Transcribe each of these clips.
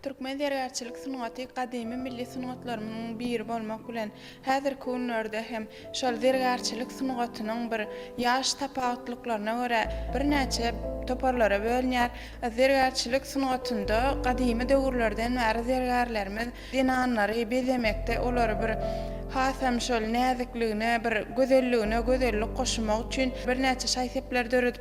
Türkmen zergärçilik sungaty gadymy milli sungatlarymyzyň biri bolmak bilen, häzirki günlerde hem şol zergärçilik sungatynyň bir ýaş tapawutlyklaryna görä birnäçe toparlara bölünýär. Zergärçilik sungatynda gadymy döwürlerden bäri zergärlerimiz zenanlary bezemekde, olary bir has hem şol näzikligine, bir gözelligine gözellik goşmak üçin birnäçe şaý-sepler döredipdirler.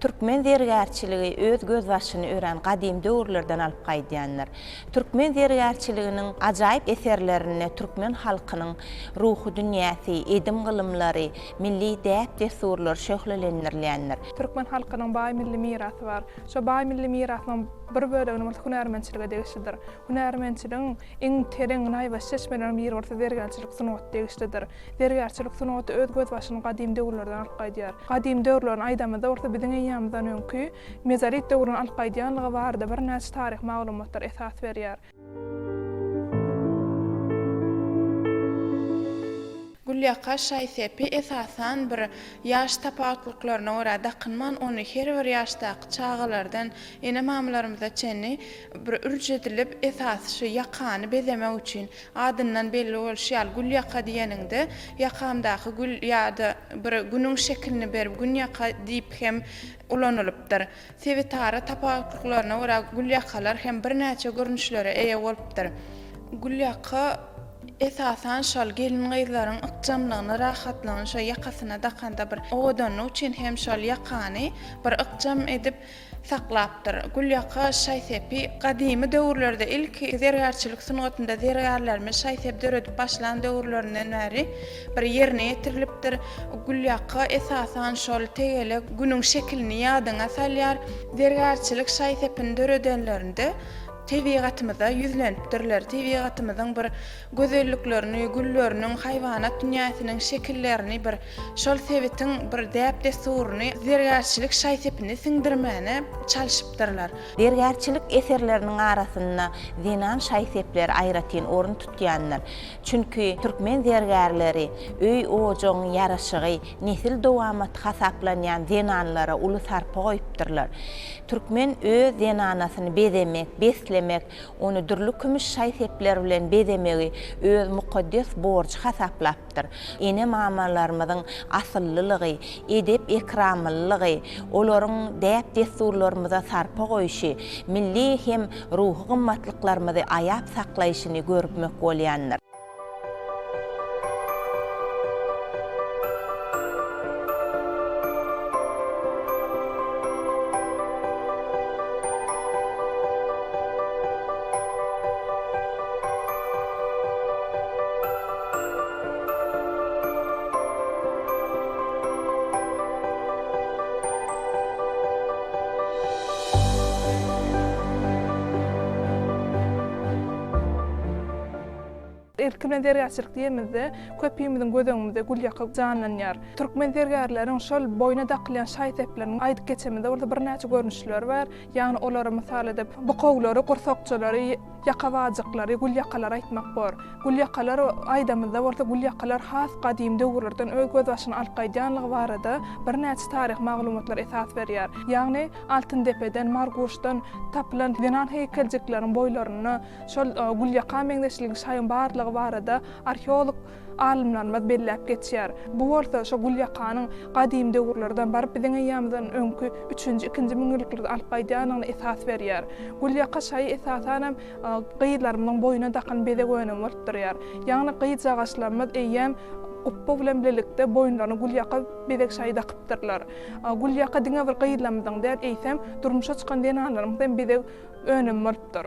Türkmen zergärçiligi öz gözbaşyny örän gadymy döwürlerden alyp gaýdýandyr. Türkmen zergärçiliginiň ajaýyp eserlerinde türkmen halkynyň ruhy dünýäsi, edim-gylymlary, milli däp-dessurlary şöhlelendirilýändir. Türkmen halkynyň baý milli mirasy bar. Şo baý milli mirasynyň bir böleginiň bolsa hünärmentçilige degişlidir. Hünärmentçiligiň iň tereň, naýbaşy çeşmeleriniň biri bolsa zergärçilik sungaty degişlidir. Zergärçilik sungaty öz gözbaşyny gadymy döwürlerden alyp gaýdýar. Gadymy döwürlerini aýdamyzda bolsa biziň eýýamyzdan öňki, mezolit döwründen alyp gaýdýanlygy barada birnäçe taryhy maglumatlar esas berýär. Gülýaka şaý-sepi esasan bir ýaş tapawutlyklaryna görä dakynman, ony her bir ýaşdaky çagalardan ene-mamalarymyza çenli Bir ürç edilip, esasy şu ýakany bezemek üçin, adyndan belli bolşy ýaly, gül ýaka diýeniňde, ýakamdaky gül ýa-da bir Günüň şekilini berip, Gün ýaka diýip hem ulanylypdyr. Sebitara tapawutlyklaryna görä, gül ýakalar hem birnäçe görnüşlere eýe bolupdyr. Gül ýaka, esasan şol gelin-gyzlaryň ykjamlygyny, rahatlygyny şo ýakasyna dakanda bir owadanlyk üçin hem şol ýakany bir ykjam edip, saklapdyr. Gülýaka şaý-sepi gadymy döwürlerde, ilki zergärçilik sungatynda zergärlerimiz şaý-sep döredip başlan döwürlerinden bäri bir ýerine ýetirilipdir. Gülýaka, esasan, şol tegelek Günüň şekilini ýadyňa salýar. Zergärçilik şaý-sepini döredenlerinde tebigatymyza ýüzlenipdirler, tebigatymyzyň bir gözelliklerini, gülleriniň, haýwanat dünýäsiniň şekillerini bir şol sebitiň bir däp-dessuryny zergärçilik şaý-sepine siňdirmäne çalşypdyrlar. Zergärçilik eserleriniň arasynda zenan şaý-sepleri aýratyn orun tutýandyr. Çünki türkmen zergärleri öý-ojagyň ýaraşygy, nesil dowamaty hasaplanýan zenanlara uly sarpa goýupdyrlar. Türkmen öz zenanasyny bezemek, beslemek, ony dürli kümüş şaý-sepler bilen bezemegi öz mukaddes borjy hasaplapdyr. ýaşadypdyr. Ene-mamalarymyzyň asyllylygy, edep-ekramlylygy, olaryň däp-dessurlarymyza sarpa goýşy, milli hem ruhy gymmatlyklarymyzy aýap saklaýşyny görüpmek bolýandyr. Erkmen zergärçilik diýemizde, köpimiziň göz öňümizde gül ýakyk janlanýar. Türkmen zergärleriň şol boýna dakylýan şaý-sepleriniň aýdyp geçemizde bolsa birnäçe görnüşleri bar. Ýagny olary mysal edip, bukawlary, gursakçalary, Ýaka bajyklary, gülýakalary aýtmak bor. Gülýakalar aýdamyzda bolsa gülýakalar has gadym döwürlerden öz gözbaşyny alyp gaýdýanlygy barada birnäçe taryhy maglumatlar esas berýär. Ýagny Altyndepeden, Marguşdan tapylan zenan heýkeljikleriň boýlarynda şol gülýaka meňzeşligiň şaýyň barlygy barada arheolog Alymlarymyz belläp geçýär. Bu bolsa şo gülýakanyň gadym döwürlerden baryp biziň eýýamyzdan öňki üçünji-ikinji müňýyllyklary alyp gaýdýandygyna esas berýär. Gülýaka şaýy esasanam gyzlarymyzyň boýuna dakan bezeg önümi bolup durýar. Ýagny gyzjagaşlarymyz eýýäm gupba bilen birlikde boýunlaryna gülýaka bezeg şaýy dakypdyrlar. Gülýaka diňe bir gyzlarymyzyň däl, eýsem durmuşa çykan zenanlarymyzyň hem bezeg önümi bolupdyr.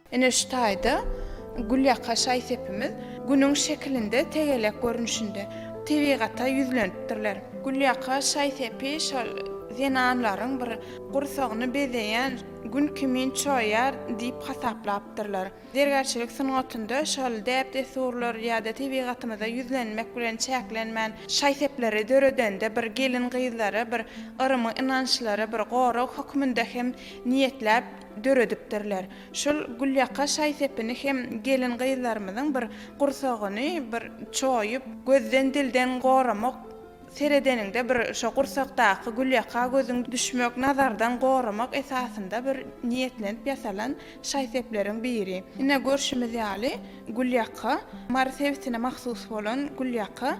Ine şu taýda gülýaka şaý-sepimiz Günüň şekilinde tegelek görnüşinde tebigata ýüzlenipdirler. Gülýaka şaý-sepi şol zenanlaryň bir gursagyny bezeýän Gün kimin çoýar diýip hasaplapdyrlar. Zergärçilik sungatynda şol däp-dessurlar ýa-da tebigatymyza ýüzlenmek bilen çäklenmän, şaý-sepleri döredende bir gelin-gyzlary bir yrym ynançlary bir gorag hökmünde hem niýetläp, döredipdirler. Şol gülýaka şaý-sepini hem gelin-gyzlarymyzyň bir gursagyny bir çoýup, gözden-dilden goramak, seredeniňde bir şo gursakdaky gülýaka gözüň düşmek, nazardan goramak esasynda bir niýetlenip ýasalan şaý-sepleriň biri. Ine, görşümiz ýaly, gülýaka Mary sebitine mahsus bolan gülýaka.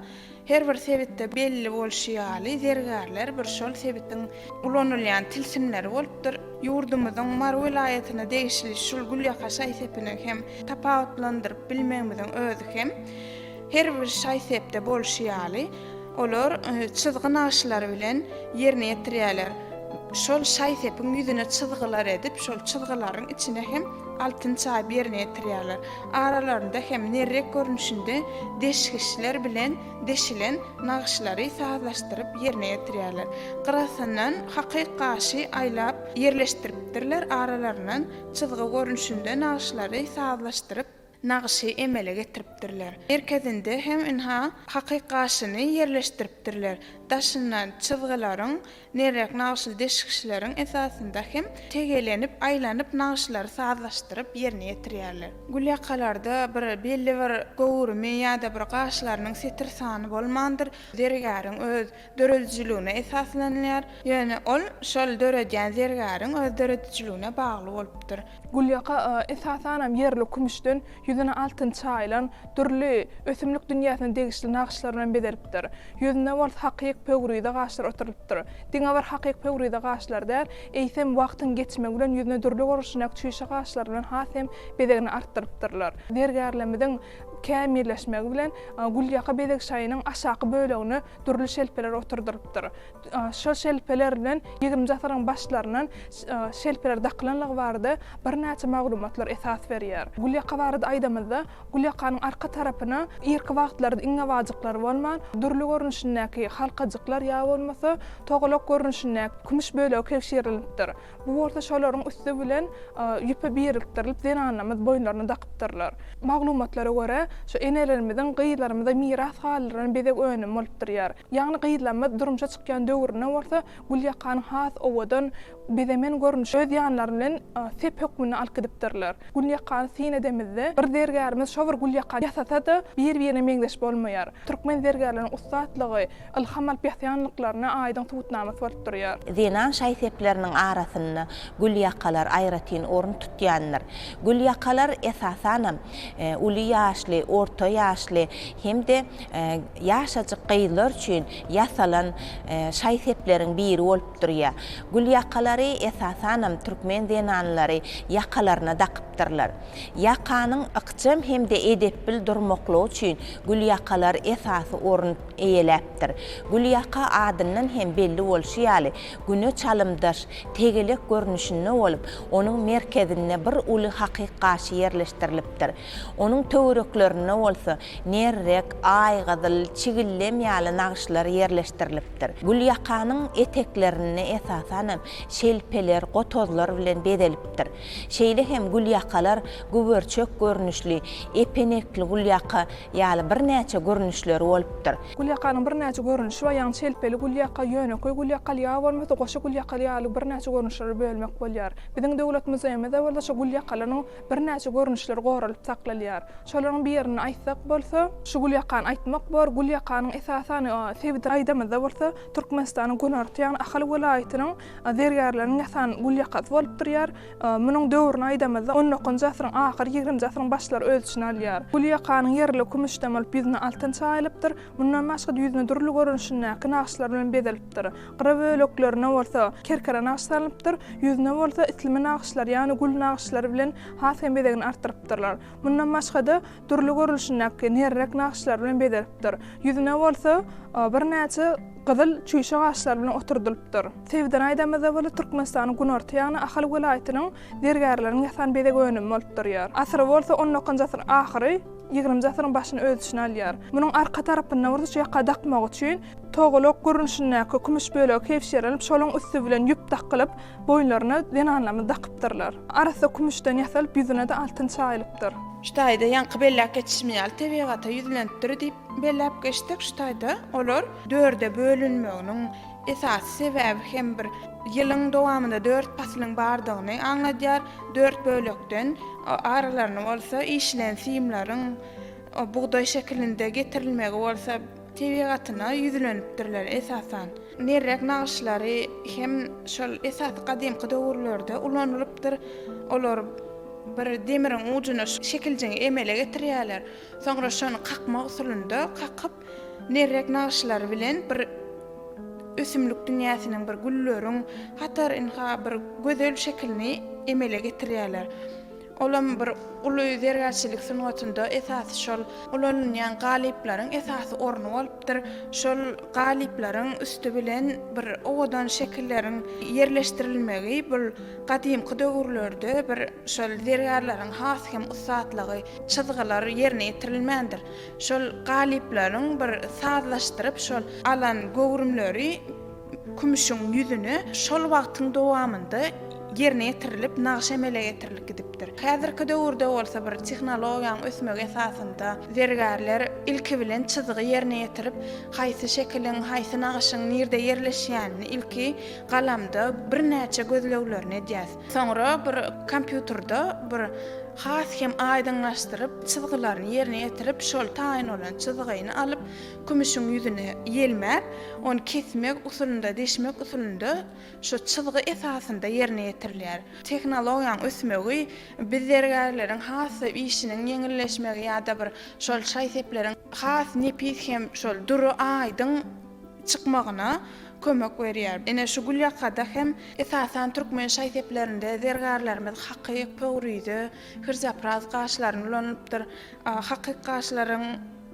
Her bir sebitde belli bolşy ýaly, zergärler bir şol sebitiň ulanylýan tilsimleri bolupdyr. Ýurdumyzyň Mary welaýatyna degişli şul gülýaka şaý-sepini hem tapawutlandyryp bilmegimiziň özi hem, her bir şaý-sepde bolşy ýaly, olar çyzgy nagşylary bilen ýerine ýetirýärler. Şol şaý-sepiň ýüzüne çyzgylar edip, şol çyzgylaryň içine hem altyn çaýyp ýerine ýetirýärler. Aralarynda hem nerrek görnüşinde deşgiçler bilen deşilen nagyşlary sazlaşdyryp ýerine ýetirýärler. Gyrasyndan hakyk gaşy aýlap ýerleşdiripdirler, aralaryndan çyzgy görnüşinde nagyşlary sazlaşdyryp, nagyşy emele getiripdirler. Merkezinde hem ynha, hakyk gaşyny ýerleşdiripdirler. Daşyndan çyzgylaryň Nerek nagşyly deşikçileriň esasynda hem tegelenip, aýlanyp nagşylary sazlaşdyryp ýerine ýetirýärler. Gülýakalarda bir belli bir göwrümi ýa-da bir gaşlarynyň setir sany bolmandyr, zergäriň öz döredijiligine esaslanylýar. Ýöne ol şol döredýän zergäriň öz döredijiligine bagly bolupdyr. Gülýaka esasanam ýerli kümüşden Ýüzüni altyn çaýylan, dürli, ösümlik dünýäsine degişli nagyşlar bilen bezelipdir. Ýüzünde bolsa hakyk pöwrize gaşlar oturylypdyr. Diňe bir hakyk pöwrize gaşlar däl, eýsem, wagtyň geçmegi bilen ýüzüne dürli görnüşindäki çüýşe gaşlar bilen has hem bezegini artdyrypdyrlar. Zergärlerimiziň kämilleşmegi bilen gülýaka bezeg şaýynyň aşaky bölegine dürli şelpeler oturdylypdyr. Şol şelpeler bilen ýigrimiji asyryň başlaryndan şelpeler dakylanlygy barada birnäçe maglumatlar esas berýär. Gulýaka barada aýdamyzda, gulýakanyň arka tarapyna irki wagtlarda iňňebajyklar bolman, dürli görnüşindäki halkajyklar ýa bolmasa togalak görnüşindäki kümüş bölegi kebşirilipdir. Bu bolsa şolaryň üsti bilen ýüpe birikdirilip, zenanlarymyz boýunlaryna dakypdyrlar. Maglumatlara görä, şu enelerimiziň gyzlarymyza miras galdyran bezeg önümi bolup durýar. Ýagny gyzlarymyz durmuşa çykýan döwründe bolsa Gülýakanyň has owadan, bizemen görnüşini öz ýanlary bilen sep hökmünde alyp gidipdirler. Gülýakany syn edemizde, bir zergärimiz şo bir gülýakany ýasasa-da, bir-birine meňzeş bolmaýar. Türkmen zergärleriniň ussatlygy, ylham alyp ýasýanlyklaryna aýdyň subutnamasy bolup durýar. Zenan şaý-sepleriniň arasynda gülýakalar aýratyn orun tutýandyr. Gülýakalar, esasanam, uly ýaşly, orta ýaşly hem-de ýaşajyk gyzlar üçin ýasalan şaý-sepleriň biri bolup durýar. Gül ýakalary esasanam türkmen zenanlary ýakalaryna dakypdyrlar. Ýakanyň ykjam hem-de edepbil durmaklygy üçin gül ýakalar esasy orun eýeläpdir. Gül ýaka adyndan hem belli bolşy ýaly, Güne çalymdaş, tegelek görnüşinde bolup, onuň merkezinde bir uly hakyk gaşy ýerleşdirilipdir. Onuň töwereklerinde bolsa nerrek, aýgyzyl, çigillem ýaly nagyşlar ýerleşdirilipdir. Gülýakanyň eteklerini esasan hem şelpeler, gotozlar bilen bezelipdir. Şeýle hem gülýakalar güberçek görnüşli, epenekli gülýaka ýaly birnäçe görnüşleri bolupdyr. Gülýakanyň birnäçe görnüşi bar, ýagny çelpeli gülýaka, ýönekeý gülýakaly ýa bolmasa goşa gülýakaly ýaly birnäçe görnüşlere bölmek bolýar. Biziň Döwlet muzeýimizde bolsa şu gülýakalaryň birnäçe görnüşleri goralyp saklalýar. Şolaryň birini aýtsak bolsa, şu gülýakany aýtmak bor, gülýakanyň esasan sebit gaýdymyzda bolsa Türkmenistanyň günorta ýagny Ahal welaýatynyň Zergärleriň ýasan gül ýakasy bolup durýar. Munuň döwrüni aýdamyzda, on dokuzynjy asyryň ahyry, ýigrimji asyryň başlary öz içine alýar. Gül ýakanyň ýerili kümüşden bolup, ýüzüne altyn çaýylypdyr. Mundan başga-da ýüzüni dürli görnüşindäki nagyşlar bilen bezelipdir. Gyra böleklerine bolsa kerkere nagyş salnypdyr. Ýüzüne bolsa islimi nagyşlar, ýagny gül nagyşlary bilen has hem bezegini artdyrypdyrlar. Mundan başga-da, Dürli görlüşindäki nerrek nagyşlar bilen bezelipdir. Ýüzüne bolsa birnäçe gyzyl çüýşe gaşlar bilen oturdylypdyr. Sebden aýdamyzda bolsa Türkmenistanyň günorta ýagny Ahal welaýatynyň zergärleriň ýasan bezeg önümi bolup durýar. Asyry bolsa on dokuzynjy asyryň ahyry, ýigriminji asyryň başyny öz içine alýar. Munuň arka tarapynda bolsa ýaka dakmak üçin Togalak görnüşindäki kümüş bölegi kebşerilip, şoluň üsti bilen ýüp dakylyp, boýunlaryna zenanlarymyz dakypdyrlar. Arassa kümüşden ýasalyp, ýüzüne-de altyn çaýylypdyr. Şu taýda ýaňky belläp geçişim ýaly tebigata ýüzlenipdir diýip belläp geçsek, şu taýda olar dörde bölünmeginiň esasy sebäbi hem bir ýylyň dowamynda dört paslyň bardygyny aňladýar. Dört bölekden aralaryny bolsa işilen simleriň bugdaý şekilinde getirilmegi bolsa, tebigatyna ýüzlenipdirler, esasan, nerrek nagyşlary hem şol esasy gadymky döwürlerde ulanylypdyr, olar bir demiriň ujuna şu şekiljiňi emele getirýärler, soňra şony kakmak usulynda kakyp, nerrek nagyşlary bilen bir ösümlik dünýäsiniň, bir gülleriň hatarynha bir gözel şekilini emele getirýärler. Olam bir uly zergärçilik sungatynda esasy şol ulanylýan galyplaryň esasy orny bolupdyr. Şol galyplaryň üsti bilen bir owadan şekilleriň ýerleşdirilmegi bul gadymky döwürlerde bir şol zergärleriň has hem ussatlygy çyzgylar ýerine ýetirilmändir. Şol galyplaryň bir sazlaşdyryp şol alan göwrümleri. Kümüşiň ýüzüne şol wagtyň dowamynda ýerine ýetirilip, nagyş emele getirilip gidipdir. Häzirki döwürde bolsa bir tehnologiýanyň ösmegi esasynda zergärler ilki bilen çyzygy ýerine ýetirip, haýsy şekiliň, haýsy nagyşyň nirde ýerleşýänini ilki galamda birnäçe gözleglerini edýär. Soňra bir kompýuterda bir has hem aýdyňlaşdyryp, çyzgylaryny ýerine ýetirip, şol taýyn bolan çyzygyny alyp, Kümüşiň ýüzüne ýelmäp, ony kesmek usulynda, deşmek usulynda şu çyzgy esasynda ýerine ýetirilýär. Tehnologiýaň ösmegi biz zergärleriň has-da işiniň ýeňilleşmegi ýa-da bir şol şaý-sepleriň has nepis hem şol dury aýdyň çykmagyna kömek berýär. Ine şu gülýakada hem esasan türkmen şaý-seplerinde zergärlerimiz hakyk, pöwrize, hyrzapraz gaşlaryny ulanypdyr. Hakyk gaşlaryň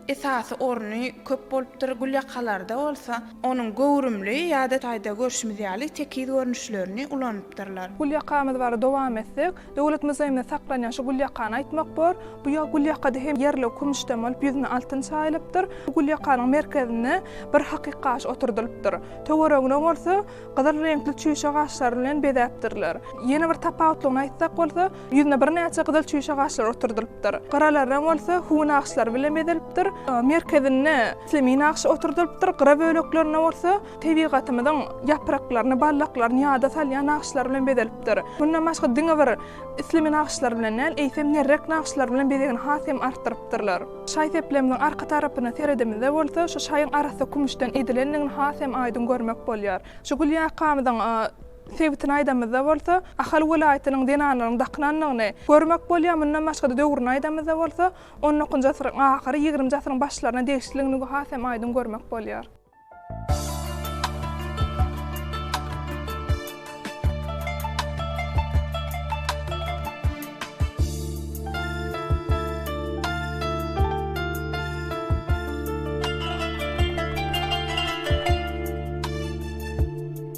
Esasy orny köp bolupdyr, gülýakalarda bolsa onuň göwrümli ýa-da taýda görşümiz ýaly tekiz görnüşlerini ulanypdyrlar. Gülýakamyz barada dowam etsek, Döwlet muzeýimizde saklanýan şu gülýakany aýtmak bor. Bu gülýakada hem ýerligi kümüşden bolup, ýüzüne altyn çaýylypdyr. Bu gülýakanyň merkezinde bir hakyk gaş oturdylypdyr. Töweregine bolsa gyzyl reňkli çüýşe gaşlar bilen bezäpdirler. Ýene bir tapawutlygyny aýtsak bolsa, Ýüzüne birnäçe gyzyl çüýşe gaşlar oturdylypdyr. Gyralar reň bolsa hüwi nagyşlary bilen bezelipdir. Merkezinde islimi nagşy oturdylypdyr, gyra böleklerinde bolsa tebigatymyzyň ýapraklaryny, ballaklaryny ýada salýan nagyşlar bilen bezelipdir. Mundan başga diňe bir islimi nagyşlar bilen däl, eýsem nerrek nagyşlar bilen bezegini has hem artdyrypdyrlar. Şaý seplemizin arka tarapyna seredimizde bolsa şu şaýyň arassa kümüşden edilendigini has hem aýdyň görmek bolýar. Şu gül ýakamyzyň Sebitini aýdamyzda bolsa, Ahal welaýatynyň zenanlaryň dakynanlygyny görmek bolýar, mundan başga-da döwrüni aýdamyzda bolsa, on dokuzynjy asyryň ahyry, ýigriminji asyryň başlaryna degişliligini has hem aýdyň görmek bolýar.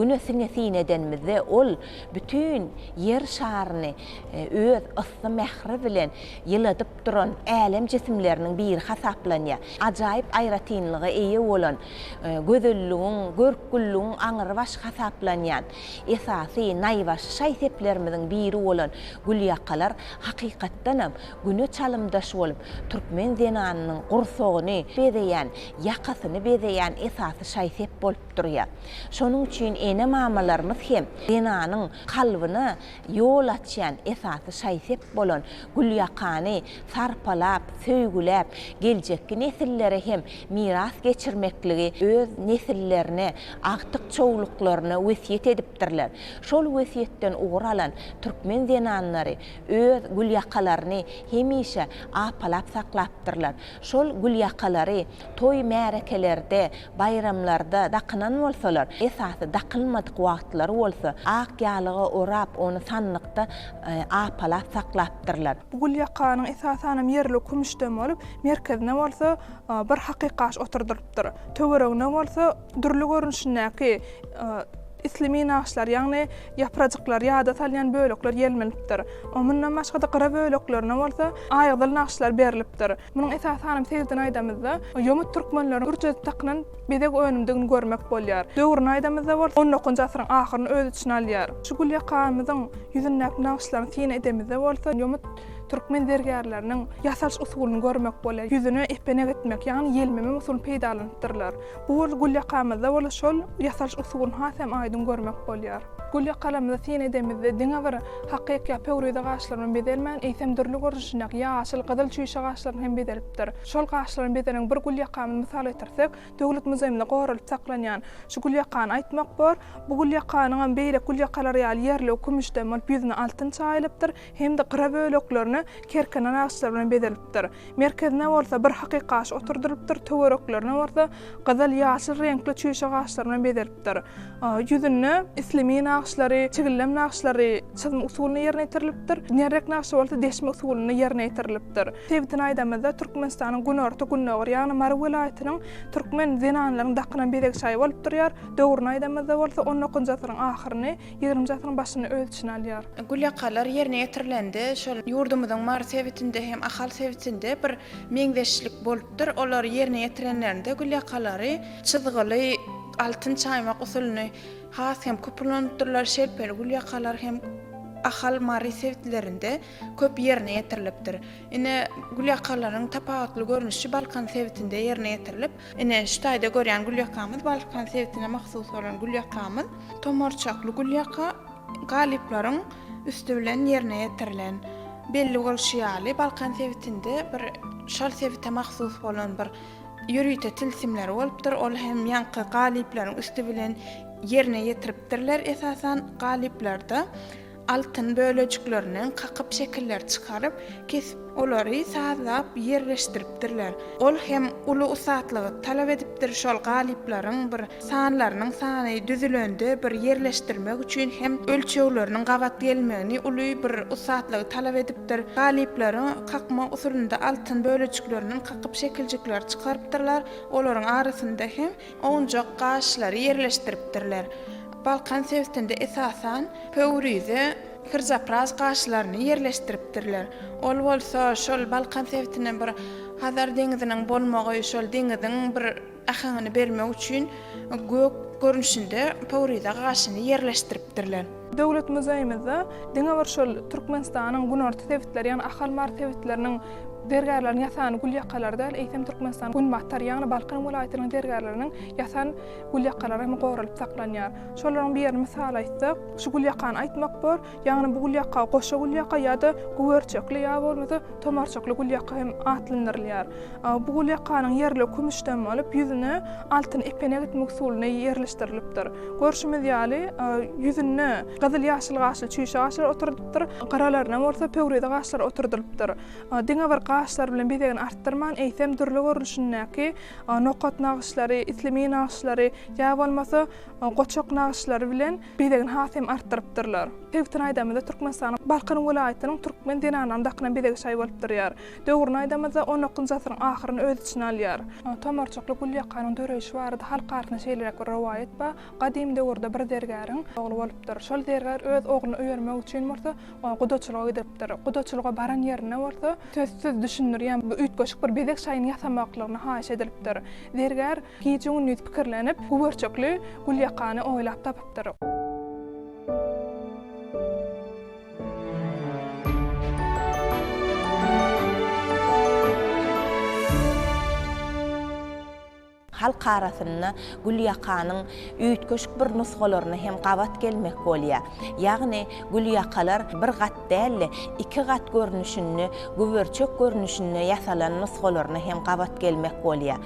Güne siňesin edenimizde, ol bütin Ýer şaryny öz yssy mähri bilen ýyladyp duran älem jisimleriniň biri hasaplanýar. Ajaýyp aýratynlyga eýe bolan, gözelligiň, görkgülligiň aňrybaş hasaplanýan Esasy naýbaşy şaý-seplerimiziň biri bolan gülýakalar hakykatdanam Güne çalymdaş bolup, türkmen zenanynyň gursagyny bezeýän, ýakasyny bezeýän esasy şaý-sep bolup durýar. Şonuň üçin ene-mamalarymyz hem zenanyň kalbyna ýol açýan esasy şaý-sep bolan gülýakany sarpalap, söýgüläp, geljekki nesillere hem miras geçirmekligi öz nesillerine, agtyk-çowluklaryna wesýet edipdirler. Şol wesýetden ugur alan türkmen zenanlary öz gülýakalaryny hemişe apalap saklapdyrlar. Şol gülýakalary Toý-märekelerde, baýramlarda dakynan bolsalar, esasy dakylmadyk wagtlary bolsa ak ýalyga orap, ony sandykda apalap saklapdyrlar. Bu gül ýakanyň esasanam ýerli kümüşden bolup, merkezine bolsa bir hakykaş oturdylypdyr. Töweregine bolsa dürli görnüşindäki isli minaçlar, ýagny ýaprajyklary ýada salýan bölekler ýelmenipdir. Mundan başga-da gyra böleklerine bolsa aýgyzyl nagyşlar berlipdir. Munuň esasy hanym Seýitini aýdamyzda, ýomut türkmenleriň ürjejip dakynan bezeg önümdigini görmek bolýar. Döwrüni aýdamyzda bolsa, on dokujy asyryň ahyryny öz içine alýar. Şu gülýakamyzyň ýüzündäki nagyşlaryny syna edemizde bolsa, ýomut türkmen zergärleriniň ýasalyş usulyny görmek bolýar. Ýüzüne epenek etmek, ýagny ýelmeme usulyny peýdalanypdyrlar. Bu bir gül ýakamyzda bola şol ýasalyş usulyny has hem aýdyň görmek bolýar. Gül ýakalarymyzy syn edemizde diňe bir hakyky ýa pöwrize gaşlarymy bezelmän, eýsem dürli görnüşindäki ýaşyl, gyzyl, çüýşe gaşlarymy hem bezelipdir. Şol gaşlarymy bezelen bir gül ýakamy mysal getirsek, Döwlet muzeýimizde goralyp saklanýan şu gül ýakany aýtmak bor. Bu gül ýakanyňam beýleki gül ýakalary ýaly ýerligi kümüşden bolup ýüzüne altyn çaýylypdyr. hem-de gyra böleklerini kerkenen agaçlar bilen bezelipdir. Merkezine bolsa bir hakyky agaç oturdylypdyr, töwereklerini bolsa gyzyl, ýaşyl reňkli çüýşe agaçlar bilen bezelipdir. Ýüzünde islemin nagyşlary, çigillem nagyşlary çyzma usulynda ýerine ýetirilipdir, nerrek nagşy bolsa deşme usulynda ýerine ýetirilipdir. Sebitini aýdamyzda, Türkmenistanyň günorta, gündogar, ýagny Mary welaýatynyň türkmen zenanlarynyň dakynan bezeg şaýy bolup durýar. Döwrüni aýdamyzda bolsa, on dokuzynjy asyryň ahyryny, Ýigrimiji asyryň başyny öz içine alýar. Gül ýakalar ýerine ýetirilende, şol ýurdumyzyň Mary sebitinde hem Ahal sebitinde bir meňzeşlik bolupdyr. Olar ýerine ýetirenlerinde gül ýakalary çyzgyly altyn çaýmak usulyny has hem köp ulanypdyrlar. Şelpeli gül ýakalar hem Ahal, Mary sebitlerinde köp ýerine ýetirilipdir. Ine, gül ýakalaryň tapawutly görnüşi Balkan sebitinde ýerine ýetirilip, Ine, şu taýda görýän gülýakamyz Balkan sebitine mahsus bolan gülýakamyz. Tomarçakly gülýaka galyplaryň üsti bilen ýerine ýetirilen. Belli bolşy ýaly, Balkan sebitinde bir şol sebite mahsus bolan bir ýörite tilsimleri bolupdyr. Ol hem ýaňky galyplaryň üsti bilen ýerine ýetiripdirler esasan galyplarda. Altyn bölejiklerinden kakyp şekiller çykaryp, kesip, olary sazlap, ýerleşdiripdirler. Ol hem uly ussatlygy talap edipdir, şol galyplaryň bir sanlarynyň sany düzülende bir ýerleşdirmek üçin hem ölçegleriniň gabat gelmegini uly bir ussatlygy talap edipdir. Galyplary kakma usulynda altyn bölejiklerinden kakyp şekiljikleri çykarypdyrlar, olaryň arasynda hem Owunjak gaşlary ýerleşdiripdirler. Balkan sebitinde esasan pöwrize, kyrjapraz gaşlaryny ýerleşdiripdirler. Ol bolsa şol Balkan sebitine bir Hazar deňiziniň bolmagy, şol deňiziň bir äheňini bermek üçin gök görnüşinde pöwrize gaşyny ýerleşdiripdirler. Döwlet muzeýimizde diňe bir şol Türkmenistanyň günorta sebitleri, ýagny Ahal-Mary sebitleriniň zergärleriniň ýasan gülýakalary däl, eýsem Türkmenistanyň günbatar, ýagny Balkan welaýatynyň zergärleriniň ýasan gülýakalary hem goralyp saklanýar. Şolaryň birini mysal aýtsak, şu gülýakany aýtmak bor, ýagny bu gülýaka goşa gülýaka ýa-da güberçekli ýa bolmasa tomarçykly gülýaka hem atlandyrylýar. Bu gulýakanyň ýerli kümüşden bolup, ýüzüne altyn epenek etmek usulyna ýerleşdirilipdir. Görşümiz ýaly, ýüzünde gyzyl-ýaşyl gaşly çüýşe gaşlar oturdypdyr, gyralaryna bolsa pöwrize gaşlar oturdylypdyr. Diňe bir gaşlar bilen bezegini artdyrman, eýsem dürli görnüşindäki nokat nagyşlary, islimi nagyşlary ýa bolmasa goçak nagyşlary bilen bezegini has hem artdyrypdyrlar. Sebitini aýdamyzda, Türkmenistanyň Balkan welaýatynyň türkmen zenanlarynyň dakynan bezegi şaý bolup durýar. Döwrüni aýdamyzda, on dokuzynjy asyryň ahyryny öz içine alýar. Tomarçakly gülýakanyň döreýşi barada halk arasynda şeýleräk bir rowaýat bar, Gadym döwürde bir zergäriň ogly bolupdyr. Şol zergär öz ogluny öýermek üçin bolsa, gudaçylyga gidiripdir. Gudaçylyga baran ýerinde bolsa, sözsüz düşündirýän bir üýtgeşik bir bezeg şaýyny ýasamaklygyny haýyş edilipdir. Zergär gije-gündiz pikirlenip, güberçekli gülýakany oýlap tapypdyr. Halk arasynda gül ýakanyň üýtgeşik bir nusgalaryna hem gabat gelmek bolýar. Ýagny gül ýakalar bir gat däl-de, iki gat görnüşinde, güberçek görnüşinde ýasalan nusgalaryna hem gabat gelmek bolýar.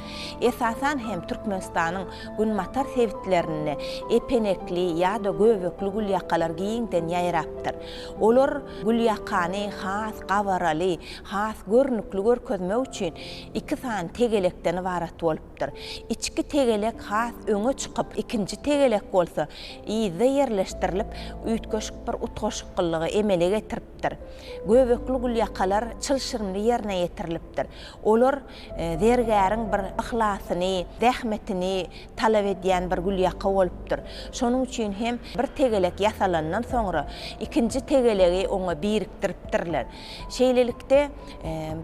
Esasan hem Türkmenistanyň Günbatar sebitlerinde epenekli ýa-da göbekli gülýakalar giňden ýaýrapdyr. Olar gülýakany has gabaraly, has görnükli görkezmek üçin iki sany tegelekden ybarat bolupdyr. Içki tegelek has öňe çykyp, ikinji tegelek bolsa yzda ýerleşdirilip, üýtgeşik bir utgaşyklygy emele getiripdir. Göbekli gülýakalar çylşyrymly ýerine ýetirilipdir. Olar Zergäriň bir yhlasyny, zähmetini talap edýän bir gülýaka bolupdyr. Şonuň üçin hem bir tegelek ýasalandan soňra, ikinji tegelegi oňa birikdiripdirler. Şeýlelikde,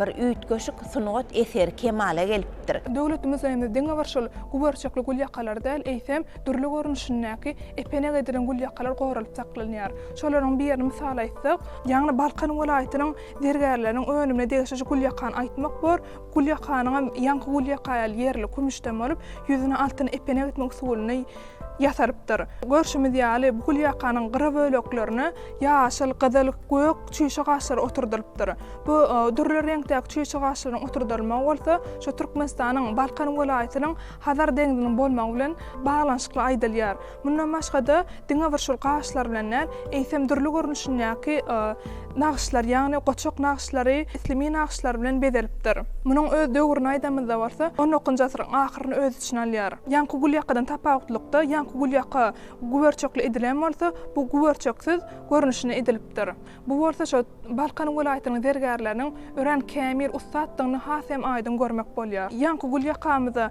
bir üýtgeşik sungat eseri kemala gelipdir. Döwlet muzeýinde diňe bir şol guberçekli gülýakalar däl, eýsem, dürli görnüşindäki epenek edilen gülýakalar goralyp saklanýar. Şolaryň birini mysal aýtsak, ýagny Balkan welaýatynyň Zergärleriň önümine degişliji gülýakany aýtmak bor. Gülýakanyňam ýaňky gülýaka ýaly ýerli kümüşden bolup, ýüzüne altyn epenek etmek usulyny ýasalypdyr. Görşümiz ýaly, bu gülýakanyň gyra böleklerine ýaşyl, gyzyl, gök çüýşe gaşlary oturdylypdyr. Bu dürli reňkdäki çüýşe gaşlaryň oturdylmagy bolsa, şu Türkmenistanyň Balkan welaýatynyň Hazar deňziniň bolmagy bilen baglanyşykly aýdylýar. Mundan başga-da, diňe bir şol gaşlar bilen däl, eýsem dürli görnüşindäki nagyşlar, ýagny goçak nagyşlary, islimi nagyşlar bilen bezelipdir. Munuň öz döwrüni aýdanymyzda bolsa, on dokuzynjy asyryň ahyryny öz içine alýar. Ýaňky gulýakadan tapawutlykda, ýaňky gulýaka güberçekli edilen bolsa, bu güberçeksiz görnüşinde edilipdir. Bu bolsa şo Balkan welaýatynyň zergärleriniň örän kämil, ussatdygyny has hem aýdyň görmek bolýar. Ýaňky gulýakamyza.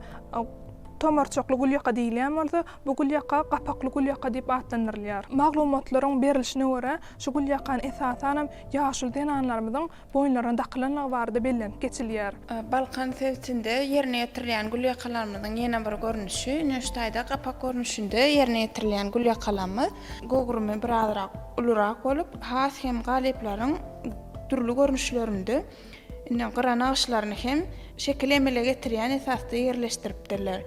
Tomarçakly gülýaka diýilýän bolsa, bu gülýaka gapakly gülýaka diýip atlandyrylýar. Maglumatlaryň berlişine görä, şu gülýakany esasanam ýaşuly zenanlarymyzyň boýunlaryna dakylandygy barada bellenip geçilýär. Balkan sebitinde ýerine ýetirilýän gülýakalarymyzyň ýene bir görnüşi, Nüştaýda gapak görnüşinde ýerine ýetirilýän gülýakalarymyz göwrümi birazrak ulurak bolup, has hem galyplaryň dürli görnüşlerinde Indi gyra nagyşlaryny hem şekili emele getirýän esasda ýerleşdiripdirler.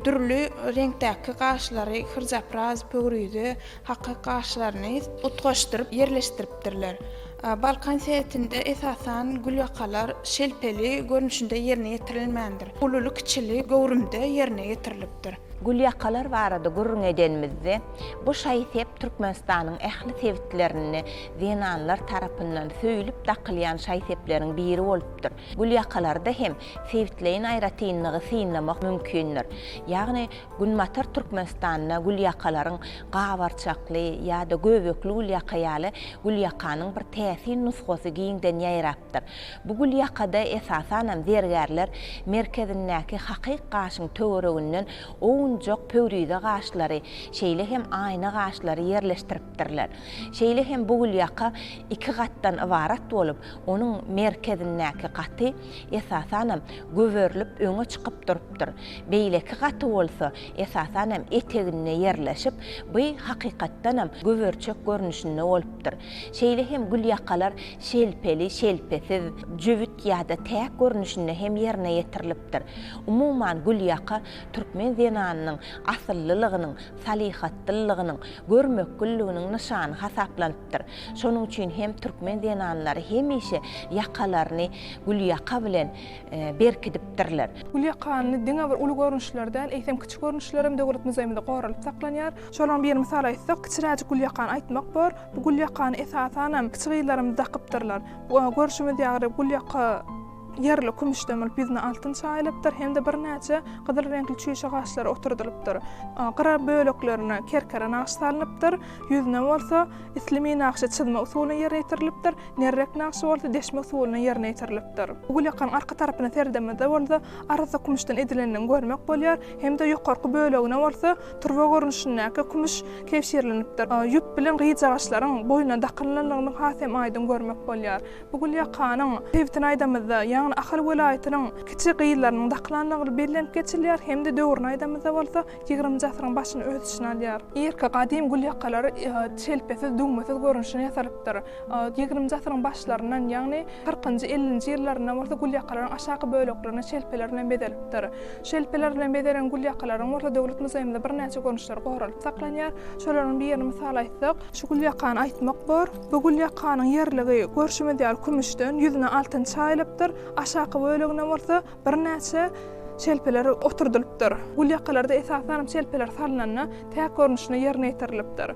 Dürli reňkdäki gaşlary, hyrjapraz, pöwrize, hakyk gaşlaryny utgaşdyryp ýerleşdiripdirler. Balkan sebitinde esasan gülýakalar şelpeli görnüşinde ýerine ýetirilmändir. Ululy-kiçili göwrümde ýerine ýetirilipdir. Gülýakalar barada gürrüň edenimizde, bu şaý-sep Türkmenistanyň ähli sebitlerinde zenanlar tarapyndan söýlüp dakylýan şaý-sepleriň biri bolupdyr. Gülýakalarda hem sebitleýin aýratynlygy synlamak mümkindir. Ýagny Günbatar Türkmenistanda gülýakalaryň gabarçakly ýa-da göbekli gülýaka ýaly gülýakanyň bir täsin nusgasy giňden ýaýrapdyr. Bu gülýakada esasanam zergärler merkezindäki hakyk gaşyň töwereginden owunjak pöwrize gaşlary, şeýle hem aýna gaşlary ýerleşdiripdirler. ýerleşdiripdirler. Şeýle hem bu gülýaka iki gatdan ybarat bolup, onuň merkezindäki gaty, esasanam, göberilip öňe çykyp durupdyr. Beýleki gaty bolsa, esasanam, eteginde ýerleşip, by, hakykatdanam, göberiçek görnüşinde bolupdyr. Şeýle hem gülýakalar şelpeli, şelpesiz, jübüt ýa-da täk görnüşinde hem ýerine ýetirilipdir. Umuman, gülýaka Türkmen zenanynyň asyllylygynyň, salyhatlylygynyň, görmekgülliginiň nyşany hasaplanypdyr. Şonuň üçin hem türkmen zenanlary hemişe ýakalaryny gülýaka bilen berkidipdirler. Gülýakany diňe bir uly görnüşleri däl, eýsem, kiçi görnüşleri hem Döwlet muzeýimizde goralyp saklanýar. Şolaryň birini mysal aýtsak, kiçiräjik gülýakany aýtmak bor. Bu gülýakany, esasan hem, kiçi gyzlarymyz dakypdyrlar. Görşümiz ýaly, gülýaka. Ýerli kümüş dömülip, ýüzüne altyn çaýylypdyr hem-de birnäçe gyzyl reňkli çüýşe gaşlary oturdylypdyr. Gyra böleklerine kerkere nagşy salnypdyr, ýüzüne bolsa islimi nagşy çyzma usulynda ýerine ýetirilipdir, nerrek nagşy bolsa deşme usulynda ýerine ýetirilipdir. Bu gülýakaň arka tarapyna seredemizde bolsa arassa kümüşden edilendigini görmek bolýar hem-de ýokarky bölegine bolsa turba görnüşindäki kümüş kebşirlenipdir. Ýüp bilen gyjagaşlaryň boýuna dakylynynyny has hem aýdyň görmek bolýar. Bu gül ýakanyň sebitini aýdamyzda, ýagny Ahal welaýatynyň kiçi gyzlarynyň dakylandygy bellenip geçilýär hem-de döwrüni aýdamyzda bolsa, ýigrimnji asyryň başyny öz içine alýar. Irki gadym gül ýakalar çelpesiz, düwmesiz görnüşini ýasalypdyr. Ýigrimnji asyryň başlaryndan, ýagny kyrkynjy, ellinji ýyllaryndan bolsa gül ýakalaryň aşaky böleklerini çelpeler bilen bezelipdir. Çelpeler bilen bezelen gül ýakalaryň bolsa Döwlet muzeýimizde birnäçe görnüşleri goralyp saklanýar. Şolaryň birini mysal aýtsak, şu gül ýakany aýtmak bor. Bu gül ýakanyň ýerligi, görşümiz ýaly, kümüşden, ýüzüne altyn çaýylypdyr, aşaky bölegine bolsa birnäçe şelpeler oturdylypdyr. Gül ýakalarda esasanam şelpeler salnanda täk görnüşinde ýerine ýetirilipdir.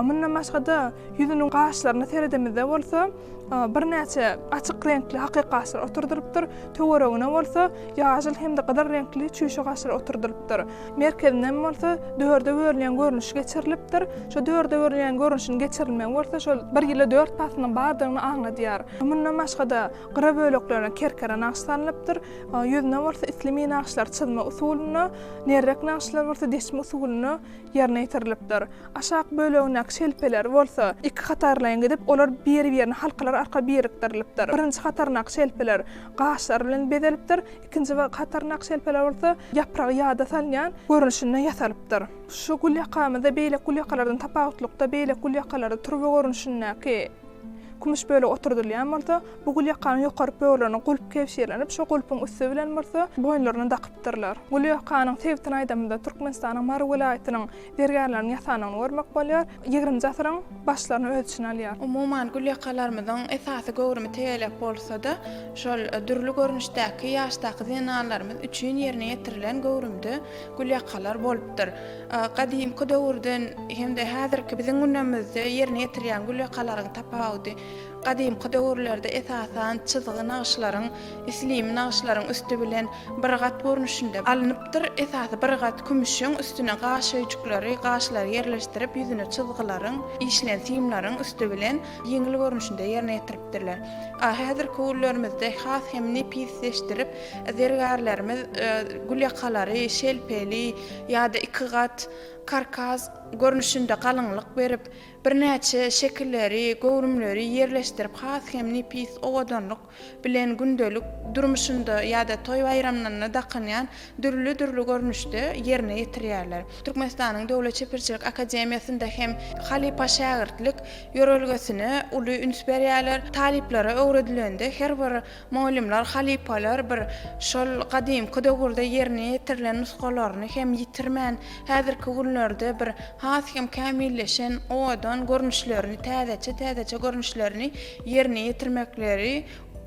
Mundan başga-da, ýüzüniň gaşlaryna seredemizde bolsa, birnäçe açyk reňkli hakyk gaşlar oturdylypdyr, töweregine bolsa ýaşyl hem-de gyzyl reňkli çüýşe gaşlar oturdylypdyr. merkezinden bolsa dörde bölünýän görnüşi geçirilipdir. Şu dörde bölünýän görnüşiniň geçirilmegi bolsa şol bir ýyla dört paslyň bardygyny aňladýar. Mundan başga-da, gyra böleklerine kerkere nagyş salnypdyr, ýüzüne bolsa islimi nagyşlar çyzma usulynda, nerrek nagyşlar bolsa deçme usulynda ýerine ýetirilipdir. Aşak bölegindäki şelpeler bolsa iki hatarlaýyn gidip, olar biri-birine halkalar arkaly birikdirilipdir. Birinji hataryndaky şelpeler gaşlar bilen bezelipdir, Ikinji we hatarnak şelpeler bolsa ýapragy ýada salynýan görnüşinde ýasalypdyr. Şu gülýakamyzda beýleki gülýakalardan tapawutlykda beýleki gülýakalarda turba görnüşindäki kümüş bölegi oturdylýan bolsa, bu gülýakanyň ýokary böwrülerine gulp kebşirlenip, şo gulpuň üsti bilen bolsa boýunlaryna dakypdyrlar. Gülýakanyň sebitini aýdamyzda, Türkmenistanyň Mary welaýatynyň Zergärleriň ýasanyny görmek bolýar. Ýigrimji asyryň başlaryny öz içine alýar. Umuman, gülýakalarymyzyň esasy göwrümi tegelek bolsa-da, şol dürli görnüşdäki ýaşdaky zenanlarymyz üçin ýerine ýetirilen göwrümde gülýakalar bolupdyr. Gadymky döwürden hem-de häzirki biziň günemizde ýerine ýetirýän gülýakalaryň tapawudy Gadymky döwürlerde esasan çyzgy nagyşlaryň, islimi nagyşlaryň üsti bilen bir gat görnüşinde alnypdyr. Esasy bir gat kümüşiň üstüne gaş öýjükleri, gaşlary ýerleşdirip, ýüzüne çyzgylaryň, işlen simleriň üsti bilen ýeňil görnüşinde ýerine ýetiripdirler. A Häzirki günlerimizde has hem nepisleşdirip, zergärlerimiz gülýakalary, şelpeli ýa-da iki gat, karkaz, görnüşinde galyňlyk berip, Birnäçe şekilleri, göwrümleri ýerleşdirip has hem nepis owadanlyk bilen gündelik durmuşynda ýa-da toý-baýramlarynda dakynýan dürli-dürli görnüşde ýerine ýetirýärler. Türkmenistanyň Döwlet çeperçilik akademiýasynda hem halypa-şägirtlik ýörelgesine uly üns berýärler. Talyplara öwredilende her bir Mugallymlar, halypalar bir şol gadymky döwürde ýerine ýetirilen nusgalaryny hem ýitirmän, häzirki günlerde bir has hem kämilleşen, owadan görnüşlerini, täzeçe-täzeçe görnüşlerini ýerine ýetirmekleri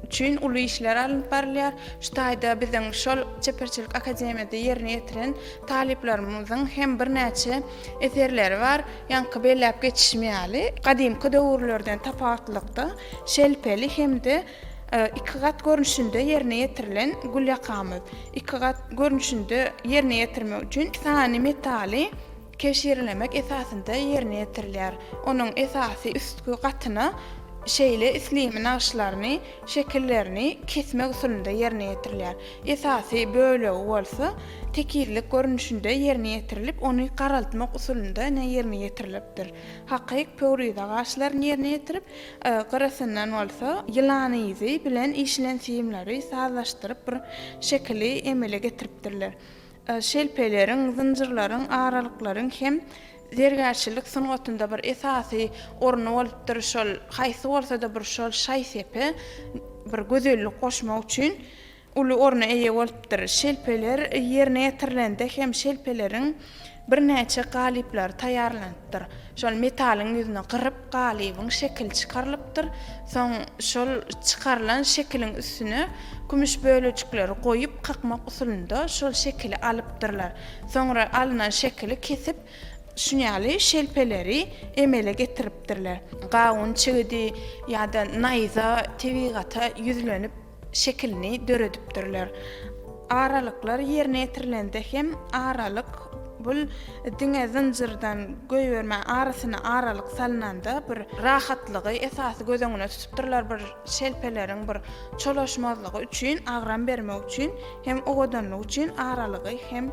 üçin uly işler alnyp barylýar. Şu taýda biziň şol Çeperçilik akademiýada ýerine ýetiren talyplarymyzyň hem birnäçe eserleri bar. Ýaňky belläp geçişim ýaly, gadymky döwürlerden tapawutlylykda, şelpeli hem-de Iki gat görnüşinde ýerine ýetirilen gül ýakamyz. Iki gat görnüşinde ýerine ýetirmek üçin sany metaly keşirlemek esasynda ýerine ýetirilýär. Onuň esasy üstki gatyna şeýle islimi nagyşlaryny, şekillerini, kesmek usulynda ýerine ýetirilýär. Esasy bölegi bolsa tekizlik görnüşinde ýerine ýetirilip, ony garaltmak usulynda ýerine ýetirilipdir. Hakyk pöwrize gaşlaryny ýerine ýetirip, gyrasyndan bolsa ýylan yzy bilen işlen simleri sazlaşdyryp bir şekili emele getiripdirler. Şelpeleriň, zynjyrlaryň, aralyklaryň hem zergärçilik sungatynda bir esasy orny bolupdyr, şol haýsy bolsa-da bir şol şaý-sepe bir gözellik goşmak üçin uly orna eýe bolupdyr. Şelpeler ýerine ýetirilende hem şelpeleriň birnäçe galyplary taýýarlanypdyr. Şol metalyň ýüzüni gyryp, galybyň şekili çykarylypdyr. Soň şol çykarylan şekiliň üstüne kümüş bölejikleri goýup, kakmak usulynda şol şekili alypdyrlar. Soňra alnan şekili kesip, şunýaly şelpeleri emele getiripdirler. Gawun çigidi ýa-da naýza tebigata ýüzlenip, şekilini döredipdirler. Aralyklar ýerine ýetirilende hem aralyk bul diňe zynjyrdan goýberme arasyna aralyk salnanda bir rahatlygy esasy göz öňüne tutupdyrlar bir şelpeleriň bir çolaşmazlygy üçin agram bermek üçin hem owadanlyk üçin aralygy hem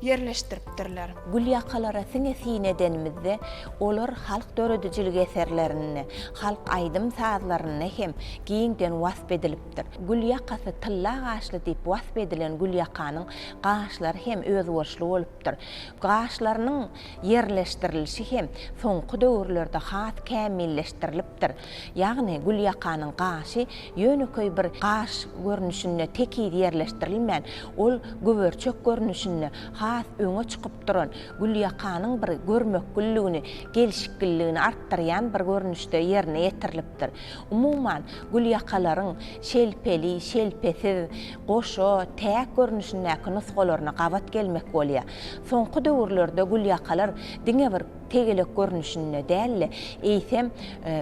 ýerleşdiripdirler. Gülýakalara siňe syn edenimizde, olar halk döredijilik eserlerinde, halk aýdym-sazlarynda hem giňden wasp edilipdir. Gül ýakasy tylla gaşly diýip wasp edilen Gülýakanyň gaşlary hem özboluşly bolupdyr. Gaşlarynyň ýerleşdirilişi hem soňky döwürlerde has kämilleşdirilip, beripdir. Ýagny gülýakanyň gaşy ýönekeý bir gaş görnüşinde tekiz ýerleşdirilmän, ol güberçek görnüşinde has öňe çykyp duran, gülýakanyň bir görmekgilligini, gelşikgilligini artdyrýan bir görnüşde ýerine ýetirilipdir. Umuman, gülýakalaryň şelpeli, şelpesiz, goşa, täk görnüşindäki nusgalaryna gabat gelmek bolýar. Soňky döwürlerde gülýakalar diňe bir. tegelek görnüşinde däl-de, eýsem,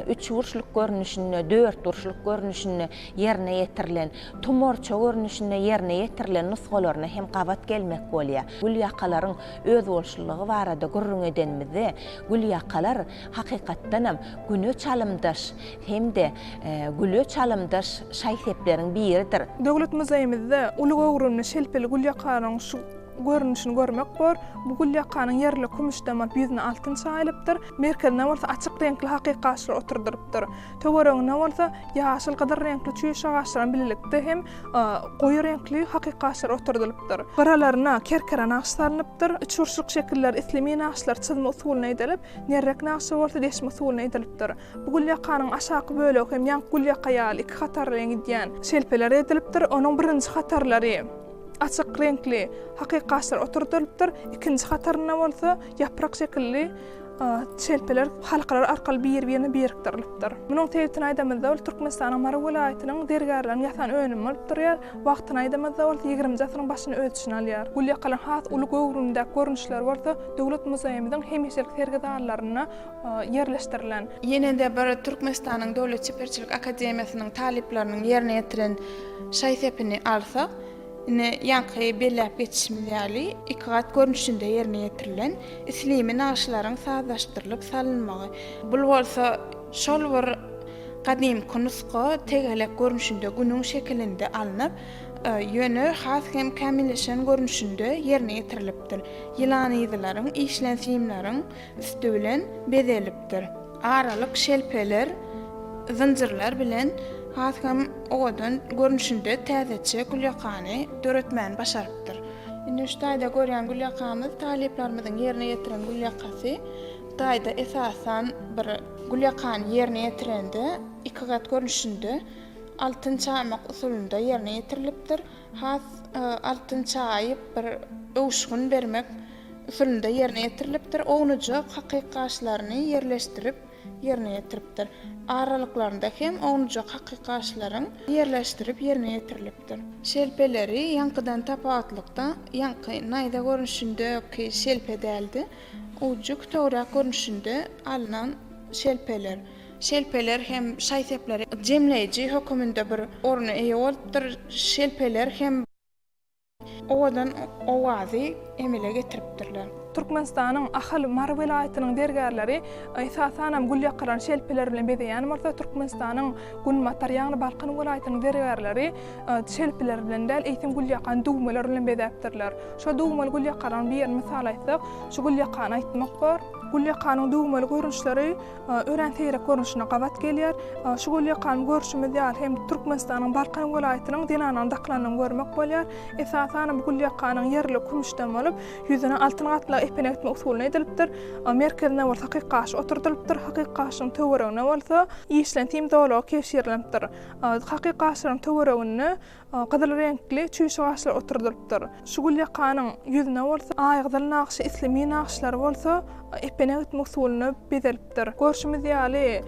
üçburçluk görnüşinde, dörtburçluk görnüşinde ýerine ýetirilen, tumorça görnüşinde ýerine ýetirilen nusgalaryna hem gabat gelmek bolýar. Gülýakalaryň özboluşlylygy barada gürrüň edenimizde, gülýakalar, hakykatdanam, güne çalymdaş hem-de güle çalymdaş şaý-sepleriň biridir. Döwlet muzeýimizde uly göwrümli şelpeli gülýakanyň şu Görnüşini görmek bor. Bu gül ýakanyň ýerli kümüş damap, ýüzüne altyn çaýylypdyr. Merkezine bolsa açyk reňkli hakyk gaçlar oturdylypdyr. Töweregine bolsa ýaşyl, gyzyl reňkli çüýş agaçlaryň bilelikde hem goýy reňkli hakyk gaçlar oturdylypdyr. Gyralaryna kerkere nagşy salnypdyr. Üçburçluk şekiller islimi nagşlar çyzma usulyna edilip, nerrek nagşy bolsa deşme usulyna edilipdir. Bu gül ýakanyň aşaky bölegi hem ýaňky gül ýaka ýaly iki hatardan gidýän şelpelerden edilipdir. Onuň birinji hatarlary Açyk reňkli hakykgaçlar oturdylypdyr, ikinji hatarynda bolsa ýaprak şekilli çelpeler halkalar arkaly bir-birine birikdirilypdyr. Munuň sebitini aýdamyzda, ol Türkmenistanyň Mary welaýatynyň zergärleriň ýasan önümi bolup durýar. Wagtyny aýdamyzda bolsa, ýigrimiji asyryň başyny öz içine alýar. Gulýakalyň has uly göwrümdäki görnüşleri bolsa Döwlet muzeýimiziň hemişelik sergi zallarynda ýerleşdirilen. Ýene-de bir Türkmenistanyň Döwlet çeperçilik akademiýasynyň talyplarynyň ýerine ýetiren Şaý sepini alsak, ine, ýaňky belläp geçişimiz ýaly, iki gat görnüşinde ýerine ýetirilen, islimi nagyşlaryň sazlaşdyrylyp salynmagy. Bul bolsa şol bir gadymky nusga tegelek görnüşinde günüň şekilinde alnyp, ýöne has hem kämilleşen görnüşinde ýerine ýetirilipdir. Ýylanyzylaryň işlensimleriň üsti bilen bezelipdir. Aralyk şelpeler, zynjyrlar bilen has hem owadan görnüşinde täzeçe gülýakany döretmäni başarypdyr. Indi şu taýda görýän gülýakamyz talyplarymyzyň ýerine ýetiren gülýakasy. Bu taýda esasan bir gülýakany ýerine ýetirende iki gat görnüşinde altyn çaýmak usulynda ýerine ýetirilipdir. Has altyn çaýyp bir öwüşgin bermek usulynda ýerine ýetirilipdir, ownujak hakykaşlaryny ýerleşdirip ýerine ýetiripdir. Aralyklarynda hem ownujak hakykaşlaryň ýerleşdirip ýerine ýetirilipdir. Şelpeleri ýaňkydan tapawutlykda, ýaňky naýza görnüşindäki şelpe däldi, ujy kütegräk görnüşinde alnan şelpeler. Şelpeler hem şaý-sepleri jemleýji höküminde bir orna eýe bolupdyr. Şelpeler hem. owadan owazy emele getiripdirler. Türkmenistanyň Ahal, Mary welaýatynyň zergärleri esasanam gül ýakylan şelpeler bilen bezeýän bolsa, Türkmenistanyň Günbatar, ýagny Balkan welaýatynyň zergärleri şelpeler bilen däl, eýsem gül ýakan düwmeler bilen bezäpdirler. Şo düwmeli gül ýakalaryň birini mysal aýtsak, şu gül ýakany aýtmak bor. Gül ýakanyň düwmeli görnüşleri örän seýrek görnüşine gabat gelýär. Şu gül ýakan görşümiz ýaly hem Türkmenistanyň Balkan welaýatynyň zenananyň dakylandygyny görmek bolýar. Esasanam bu gül ýakanyň ýerligi kümüşden bolup, ýüzüne altyn gatlag epenek etmek usulyna edilipdir. Merkezinde bolsa hakyk gaş oturdylypdyr. Hakyk gaşyň töweregine bolsa işlentim zolagy kebşirlenipdir. Hakyk gaşlaryň töwereginde Gyzyl reňkli çüýşe gaşlar oturdylypdyr. Şu gül ýakanyň ýüzüne bolsa aýgyzyl nagşy isli mi nagşlary bolsa epene gitme usulynda bezelipdir. Görşümiz ýaly,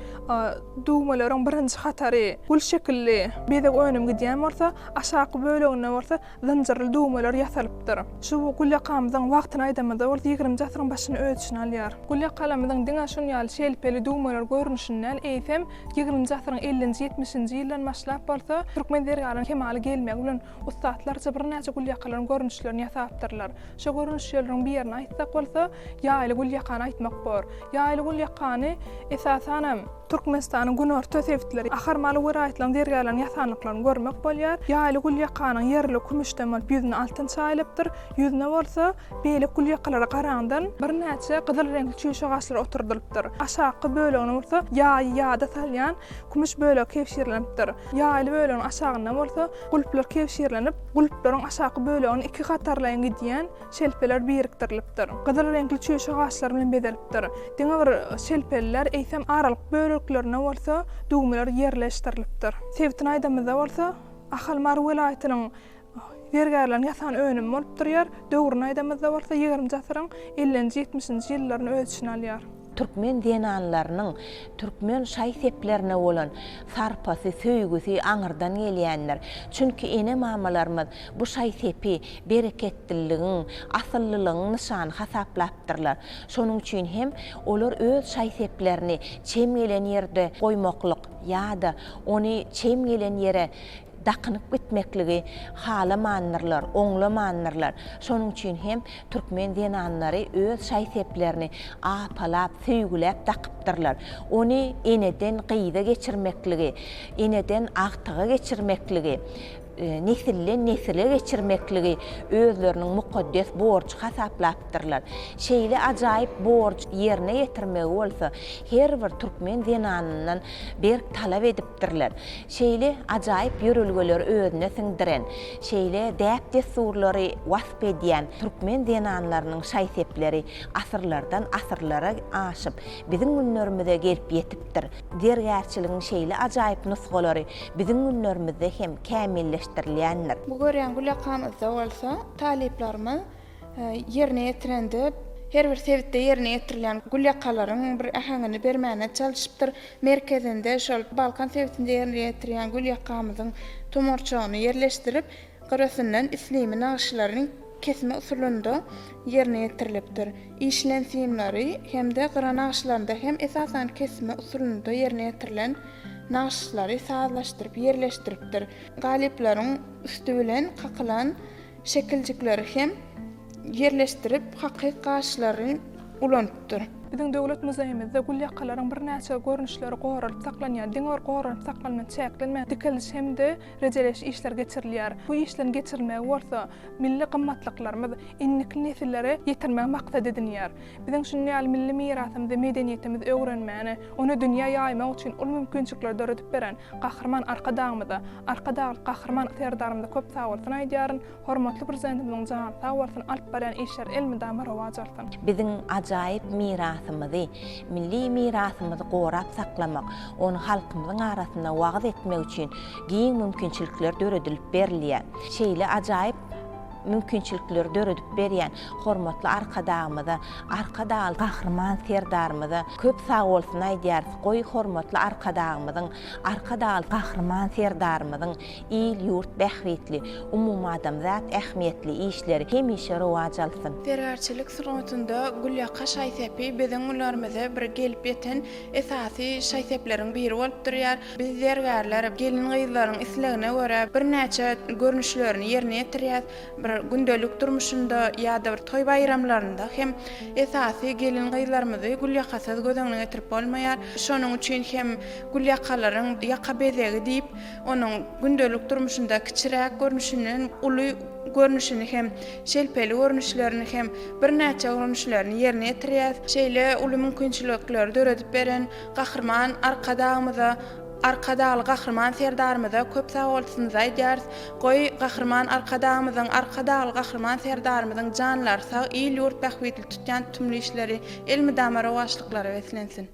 düwmeleriň birinji hatary gül şekilli bezeg önüm gidýän bolsa, aşaky böleginde bolsa zynjyrly düwmeler ýasalypdyr. Şu gül ýakamyzyň wagtyny aýdamyzda bolsa ýigrimji asyryň başyny öz içine alýar. Gül ýakalarymyzyň diňe şun ýaly şelpeli düwmeler görnüşini däl, eýsem, Ýigriminji asyryň ellinji-ýetmişinji ýyldan başlap bolsa, türkmen zergarynyň kemala gelmegi bilen ussatlarça birnäçe gülýakalaryň görnüşlerini ýasapdyrlar. Şo görnüşjelriň birini aýtsak bolsa, ýaýly gülýakany aýtmak bor. Ýaýly gülýakany, esasanam, Türkmenistanyň günorta sebitleri, Ahar-Mary welaýatlaryň zergärleriniň ýasandyklaryny görmek bolýar. Ýaýly gülýakanyň ýerli kümüşden bolup, ýüzüne altyn çaýylypdyr. Ýüzüne bolsa, Beýleki gülýakalara garandan birnäçe gyzyl reňkli çüýşe gaşlar oturdylypdyr. Aşaky bölegine bolsa ýaýy ýada salýan kümüş bölegi kebşirlenipdir. Ýaýyly bölegiň aşagynda bolsa gulplar kebşirlenip, gulplaryň aşaky bölegine iki hatarlaýyn gidýän şelpeler birikdirilipdir. Gyzyl reňkli çüýşe gaşlar bilen bezelipdir. Diňe bir şelpeliler, eýsem aralyk böleklerine bolsa düwmeler ýerleşdirilipdir. Sebitini aýdamyzda bolsa, Ahal Mary welaýatynyň Zergärleriň ýasan önümi bolup durýar. Döwrüni aýdamyzda bolsa ýigrimji asyryň ellinji, ýetmişinji ýyllaryny öz içine alýar. Türkmen zenanlarynyň türkmen şaý-seplerine bolan sarpasy, söýgüsi aňyrdan gelýändir. Çünki ene-mamalarymyz bu şaý-sepi bereketliligiň, asyllylygyň nyşany hasaplapdyrlar. Şonuň üçin hem olar öz şaý-seplerini çem gelen ýerde goýmaklyk ýa-da ony çem gelen ýere dakynyp gitmekligi halamandyrlar, oňlamandyrlar. Şonuň üçin hem türkmen zenanlary öz şaý-seplerini apalap, söýgüläp dakypdyrlar. Ony eneden gyza geçirmekligi, eneden agtyga geçirmekligi, nesilden nesile geçirmekligi özleriniň mukaddes borjy hasaplapdyrlar. Şeýle ajaýyp borjy ýerine ýetirmegi bolsa her bir türkmen zenanyndan berk talap edip etdirler. Şeýle ajaýyp ýörelgeleri özüne siňdiren, şeýle däp-dessurlary wasp edýän türkmen zenanlarynyň şaý-sepleri asyrlardan asyrlara aşyp, biziň günlerimize gelip ýetipdir. Zergärçiligiň şeýle ajaýyp nusgalary biziň günlerimizde hem kämilleşdirilýändir. Bu görýän gülakam yzda bolsa, talyplarymyz ýerine ýetirende her bir sebitde ýerine ýetirilýän gül ýakalaryň bir äheňini bermäne çalyşypdyr. Merkezinde şol Balkan sebitinde ýerine ýetirýän gül ýakamyzyň tomarçagyny ýerleşdirip, gyrasyndan islimi nagyşlaryny kesme usulynda ýerine ýetirilipdir. Işilen simleri hem-de gyra nagyşlarynda hem esasan kesme usulynda ýerine ýetirilen nagyşlary sazlaşdyryp ýerleşdiripdir. Galyplaryň üsti bilen kakylan Şekiljikleri hem ýerleşdirip, hakyky gaşlary ulanypdyr. Biziň Döwlet muzeýimizde gül ýakalaryň birnäçe görnüşleri goralyp saklanýar. Diňe bir goranyp saklanma çäklenmän, dikeliş hem-de rejeleýiş işleri geçirilýär. Bu işleriň geçirilmegi bolsa, milli gymmatlyklarymyz indiki nesillere ýetirmegi maksat edinýär. Biziň şuny ýaly milli mirasymyzy, medeniýetimizi öwrenmäne, ony dünýä ýaýmak üçin uly mümkinçilikleri döredip beren Gahryman Arkadagymyza, Arkadagly Gahryman Serdarymyza köp sag bolsun aýdýaryn, hormatly Prezidentimiziň jany sag bolsun, alyp barýan işleri elmydama rowaç alsyn! Biziň ajaýyp mirasymyzy, milli mirasymyzy gorap saklamak, ony halkymyzyň arasynda wagyz etmek üçin giň mümkinçilikler döredilip berilýär. Şeýle ajaýyp. mümkinçilikleri döredip berýän hormatly Arkadagymyza, Arkadagly Gahryman Serdarymyza köp sag bolsun aýdýarys, goý, hormatly Arkadagymyzyň, Arkadagly Gahryman Serdarymyzyň il-ýurt bähbitli, umumadamzat ähmiýetli işleri hemişe rowaç alsyn! Zergärçilik sungatynda gülýaka şaý-sepi biziň günlerimize bir gelip ýeten esasy şaý-sepleriň biri bolup durýar. Biz zergärler gelin-gyzlaryň islegine görä birnäçe görnüşlerini ýerine ýetirýäs. Bir gündelik durmuşynda ýa-da bir toý-baýramlarynda hem esasy gelin-gyzlarymyzy gülýakasyz göz öňüne getirip bolmaýar. Şonuň üçin hem gülýakalaryň ýaka bezegi diýip, onuň gündelik durmuşynda kiçiräk görnüşinden uly görnüşini hem, şelpeli görnüşlerini hem, birnäçe görnüşlerini ýerine ýetirýäs. Şeýle uly mümkinçilikleri döredip beren Gahryman Arkadagymyza, Arkadagly Gahryman Serdarymyza köp sagbolsunyz aýdýarys. Goý, Gahryman Arkadagymyzyň, Arkadagly Gahryman Serdarymyzyň janlary sag, il-ýurt bähbitli tutýan tutumly işleri elmydama rowaçlyklara beslensin!